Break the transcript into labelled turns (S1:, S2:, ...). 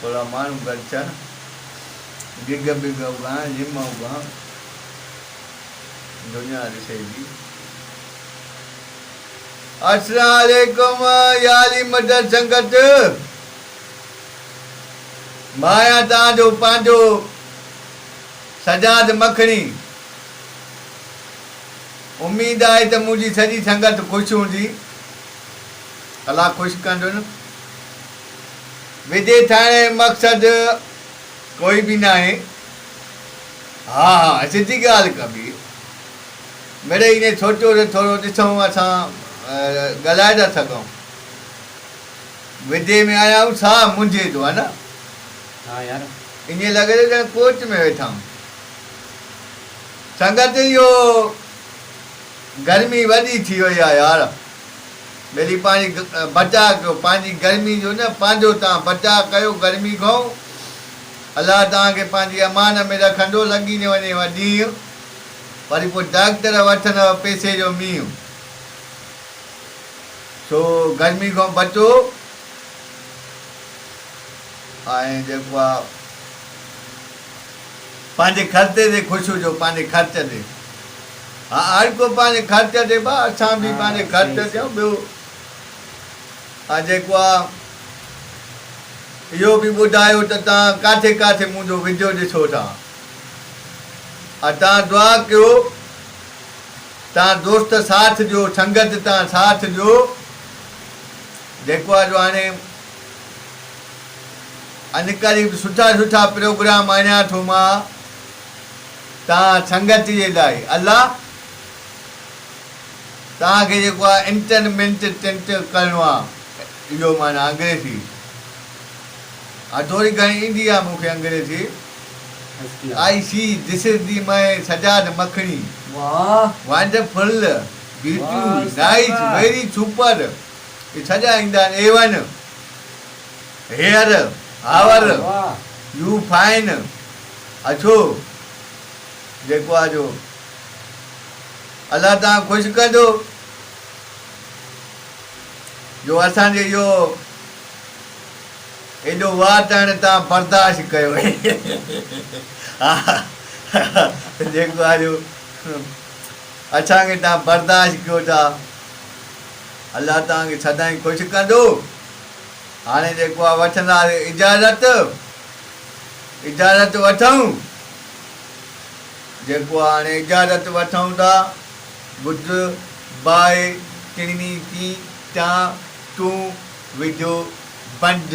S1: ٿورا ماڻهو گڏ ٿيا، ڊگهه بگهه اوگان، لم اوگان، دنيا ڏسي جي. اسلام عليڪم ياري مدر سنگت مان آهيان توهان جو پنهنجو سجاد مکڻي. اميد آهي ته منهنجي سڄي سنگت خوش هوندي. الله خوش ڪندن. ويجهي ٿيڻ ۽ مقصد ڪوئي به ناهي. ها ها سڌي ڳالهه ڪبي. مڙئي ائين سوچيو ته ٿورو ڏسون اسان ڳالهائي ٿا سگهون. ويجهي ۾ آيا آهيون ساهه منجهي ٿو ها نه. ها
S2: يار. ائين لڳي ٿو ڄڻ
S1: ڪوچ ۾ ويٺا آهيون. سنگت اهو گرمي وڏي ٿي وئي آ يار ٻيلي پاڻي بچاء ڪيو پنهنجي گرمي جو نه پنهنجو تان بچاء ڪيو گرمي کان الله توهان کي پنهنجي امان ۾ رکندو لڳي نه وڃي و ڏينهن وري پو ڊاڪٽر وٺندؤ پيسي جو مينهن سو گرمي کان بچو ۽ جيڪو آ پنهنجي خرچي تي خوش هجو پنهنجي خرچ تي ها هر ڪو پنهنجي خرچ تي با اسان به پنهنجي خرچ تي ۽ ٻيو ها جيڪو آ اهو به ٻڌايو ته تان ڪاٿي ڪاٿي منهنجو وڊيو ڏسو ٿا ها تان دعا ڪيو تان دوست ساٿ ڏيو سنگت تان ساٿ ڏيو جيڪو آ جو هاڻي اڄ قريب سٺا سٺا پروگرام آڻيان ٿو مان تان سنگت جي لاء الله تان کي جيڪو آ انٽرمينٽ ٽنٽ ڪرڻو آ اهو معنيٰ انگريزي آ ٿوري گهڻي ايندي آ مون کي انگريزي I see this is the مئي Sajjad Makhni wonderful beauty nice very super. اي ڇڄا ايندا آهن اي one here how are you fine اڇو جيڪو آ جو الله تان خوش ڪندو جو اسان جي يو ايڏو واتڻ تان برداشت ڪيو جيڪو آ جو اسان کي تان برداشت ڪيو ٿا الله توهان کي سدائين خوش ڪندو. هاڻي جيڪو آهي وٺنداسين اجازت. اجازت وٺون. جيڪو آهي هاڻي اجازت وٺون ٿا. بدھ، باهه، ٽيڻي، چي، چان، چون، وجهو، بنڊ.